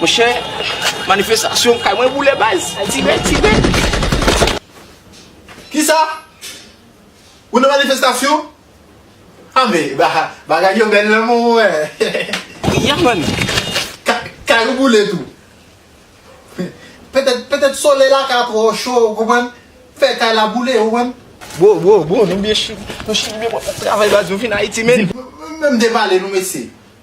Monchè manifestasyon kay mwen boule baz. Tibè tibè. Kisa? Ou nan manifestasyon? A men bagay yo bèl nan mwen wè. Ya man. Kay ou boule tou. Petèt solèy la ka twò cho ou konprann fè kay la boule ou konprann. Bro bro bro nou byen chill nou chill byen bro travay baz nou vin ayiti men. Menm depale nou mesye.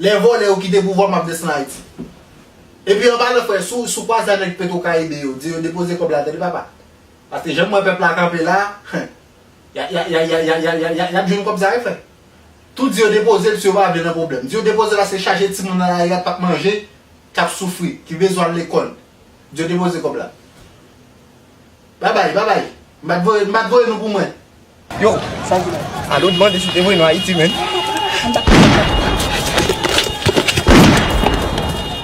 Lè vòlè yo kite pouvwa map desann ayiti. Epi anba lòt frè sou sou kwaza nèg petro karibe yo di yo depoze kòb la tande papa paske janm wè pèp la kanpe la ya ya ya ya ya ya ya yap jwenn kòb sa wi frè tou di yo depozel si yo pa vle nan pwoblèm di yo depozel paske chaje timoun nan lari a pap manje kap soufri ki bezwen al lekòl di yo depoze kòb la. Bye bye, bye bye. M pa t voye, m pa t voye nou pou mwen. Yo, sa di la? Alo, mande si te voye nou Ayiti menm.